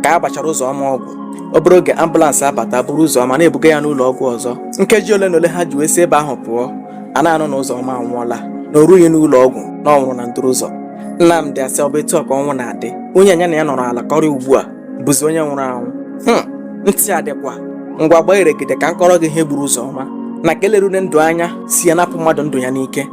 ka a gbachara Ụzọma ọgwụ obere oge ambụlansị abata buru Ụzọma na-ebuga ya n'ụlọ ọgwụ ọzọ nkeji ole na ole ha ji wee si ebe ahụ pụọ a na-anụ na Ụzọma anwụọla na o rughị n'ụlọ ọgwụ na ọ nwụrụ na ndụrụ ụzọ Nnamdị asị ọ bụ etu a ka ọnwụ na-adị onye nya na ya nọrọ ala kọrịa ugbu a bụzi onye nwụrụ anwụ Hmm, ntị a dịkwa ngwa gbaa eregede ka m kọrọ gị ihe gburu Ụzọma na ka elerune ndụ anya si anapụ mmadụ ndụ ya n'ike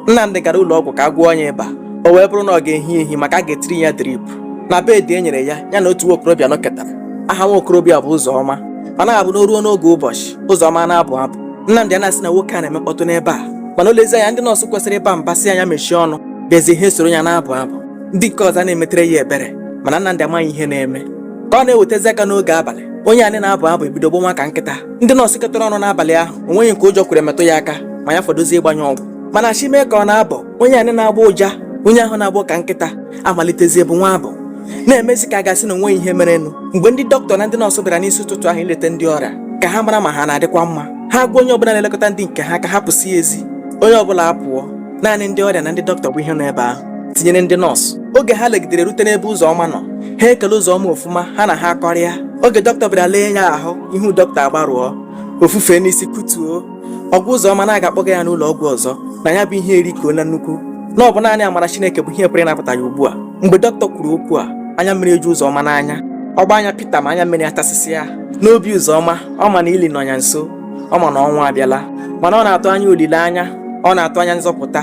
Nnamdị gara ụlọ ọgwụ ka a gwọọ ya ịba o wee bụrụ na ọ ga-ehi ehi maka a ga-etiri ya drip na bedị e nyere ya ya na otu nwa okorobịa nọketara aha nwa okorobịa bụ Ụzọma ọ na-abụ na o ruo n'oge ụbọchị Ụzọma a na-abụ abụ Nnamdị a na-asị na nwoke a na-eme mkpọtụ n'ebe a mana o lezi anya ndị nọọsụ kwesịrị ịba ya mba sị nya mechie ọnụ bụzie ihe soro ya na-abụ abụ ndị nke ọzọ na-emetere ya ebere mana Nnamdị amaghị ihe na-eme ka ọ na-ewetazi aka n'oge abalị onye anyị na-abụ abụ ebido gbọnwa ka nkịta ndị nọọsụ ketara ọrụ n'abalị ahụ onweghị nke ụjọ kwere metụ ya aka ma ya fọdụzie ịgbanye ọgwụ mana chi mee ka ọ na-abọ onye anyị na-agba ụja onye ahụ na-agbọ ka nkịta amalitezie bụnwa abụ na-emezi ka a ga-asị na onweghị ihe merenụ mgbe ndị dọkịta na ndị nọọsụ bịara n'isi ụtụtụ ahụ ileta ndị ọrịa ka ha mara ma ha na-adịkwa mma ha gwa onye ọbụla na-elekọta ndị nke ha ka ha pụsị ezi onye ọbụla apụọ naanị ndị ọrịa na ndị dọkịta bụ ihe nọ ebe ahụ tinyere ndị nọọsụ oge ha legidere rute n'ebe Ụzọma nọ ha ekele Ụzọma ofuma ha na ha kọrịa oge dọkịta bịara lee ya ahụ ihu dọkịta agbarụọ o fufe n'isi kutuo ọ gwa Ụzọma na a ga-akpọga ya n'ụlọ ọgwụ ọzọ na ya bụ ihe erikaala nnukwu na ọ bụ naanị amara Chineke bụ ihe pụrụ ịnapụta ya ugbu a mgbe dọkịta kwuru okwu a anya mmiri eju Ụzọma n'anya ọ gbaa anya pita ma anya mmiri atasịsị ya n'obi Ụzọma ọ ma na ili nọ ya nso ọ ma na ọnwụ abịala mana ọ na-atụ anya olileanya ọ na-atụ anya nzọpụta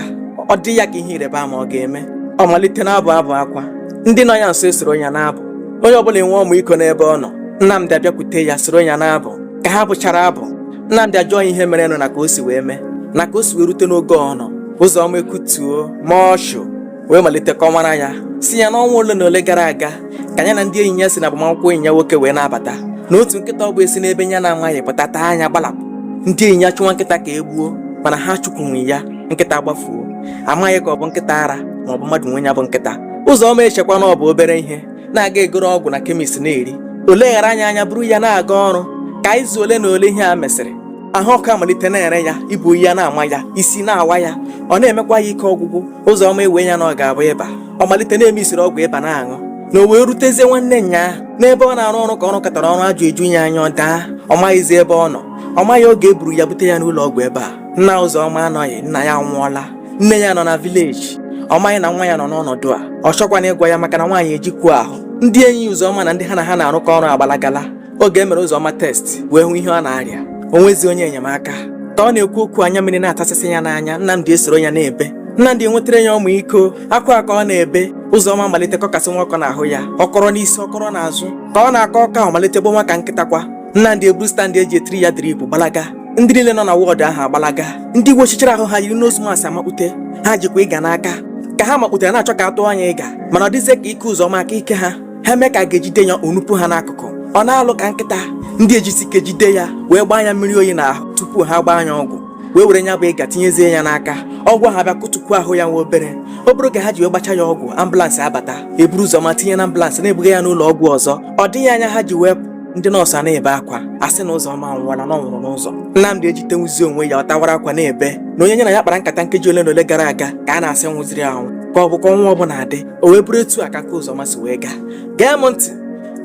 ọ dị ya ka ihe ịrịba ama ọ ga-eme ọ malite na-abụ abụ akwa ndị nọ ya nso esoro ya na-abụ onye ọbụla enwe ọmịiko n'ebe ọ nọ Nnamdị abịakwute ya soro ya na-abụ ka ha bụchara abụ Nnamdị ajụọ ya ihe merenụ na ka o si wee mee na ka o si wee rute n'oge ọ nọ Ụzọma ekutuo maa ọsụ wee malite kọwara ya sị ya n'ọnwa ole na ole gara aga ka ya na ndị enyi ya si na agbamakwụkwọ enyi ya nwoke wee na-abata na otu nkịta ọ bụ esi n'ebe ya na-amaghị pụta taa ya gbalapụ ndị enyi ya chụwa nkịta ka e gbuo mana ha chụkwunwu ya nkịta gbafuo amaghị ka ọ bụ nkịta ara ma ọ bụ mmadụ nwe ya bụ nkịta Ụzọma echekwa na ọ bụ obere ihe na-aga egoro ọgwụ na kemist na-eri o leghara ya anya buru ya na-aga ọrụ ka izu ole na ole ihe a mesịrị ahụ ọkụ amalite na-ere ya ibu oyi a na-ama ya isi na-awa ya ọ na-emekwa ya ike ọgwụgwụ Ụzọma ewee ya na ọ ga-abụ ịba ọ malite na-eme isiri ọgwụ ịba na-aṅụ na o wee rutezie nwanne nnyaahụ n'ebe ọ na-arụ ọrụ ka ọ rụkatara ọrụ ajụ eju ya anya ọ daa ọ maghịzi ebe ọ nọ ọ maghị oge e buru ya bute ya n'ụlọ ọgwụ ebe a nna Ụzọma anọghị nna ya anwụọla nne ya nọ na vileji ọ maghị na nwa ya nọ n'ọnọdụ a ọ chọkwana ịgwa ya maka na nwaanyị ejikwu ahụ ndị enyi Ụzọma na ndị ha na ha na-arụkọ ọrụ agbalagala oge e mere Ụzọma test wee hụ ihe ọ na-arịa o nweghịzi onye enyemaka ka ọ na-ekwu okwu anya mmiri na-atasịsị ya n'anya Nnamdi esoro ya na-ebe Nnamdi enwetara ya ọmịiko akwa ka ọ na-ebe Ụzọma malite kọkasịwa ọkọ n'ahụ ya ọ kọrọ n'isi ọ kọrọ n'azụ ka ọ na-akọ ọkọ ahụ malite gbọwa ka nkịta kwa Nnamdi eburu stand e ji etinye ya drip gbalaga ndị niile nọ na ward ahụ agbalaga ndị uwe ochichara ahụ ha yiri nose mask amakpute ha jikwa ịga n'aka ka ha makputere na-achọ ka a tụọ ya ịga mana ọ dịzị ka ike Ụzọma aka ike ha ha mee ka ha ga-ejide ya o nupụ ha n'akụkụ ọ na-alụ ka nkịta ndị ejisie ike jide ya wee gbaa ya mmiri oyi n'ahụ tupu ha gbaa ya ọgwụ wee were ya bụ ịga tinyezie ya n'aka ọgwụ ahụ abịa kụtụkwuo ahụ ya nwa obere ọ bụrụ ka ha ji wee gbacha ya ọgwụ ambulance abata e buru Ụzọma tinye na ambulance na-ebuga ya n'ụlọ ọgwụ ọzọ ọ dịghị anya ha ji wee ndị nọọsụ a na-ebe akwa asị na Ụzọma nwụwara na ọ nwụrụ n'ụzọ Nnamdi ejidenwuzi onwe ya ọ tawara akwa na-ebe na onye ya na ya kpara nkata nkeji ole na ole gara aga ka a na-asị nwụziri anwụ ka ọ bụkwa ọnwa ọbụla adị o wee bụrụ etu akụkọ Ụzọma si wee gaa gee m ntị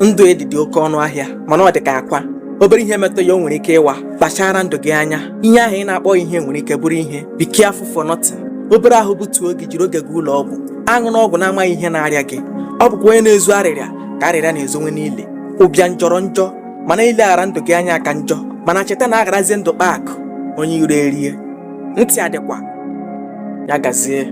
ndụ ị dị dị oke ọnụ ahịa mana ọ dị ka akwa obere ihe metụ ya o nwere ike ịwa kpachara ndụ gị anya ihe ahụ ị na-akpọghị ihe nwere ike bụrụ ihe be careful for nothing obere ahụ butuo gị jiri oge gaa ụlọ ọgwụ aṅụna ọgwụ na-amaghị ihe na-arịa gị ọ bụkwa onye na-ezo arịrịa ka arịrịa na-ezo mgbe niile ụbịam jọrọ njọ mana ileghara ndụ gị anya aka njọ mana cheta na a gharazie ndụ kpaa akụ onye iro erie ntị adịkwa ya gazie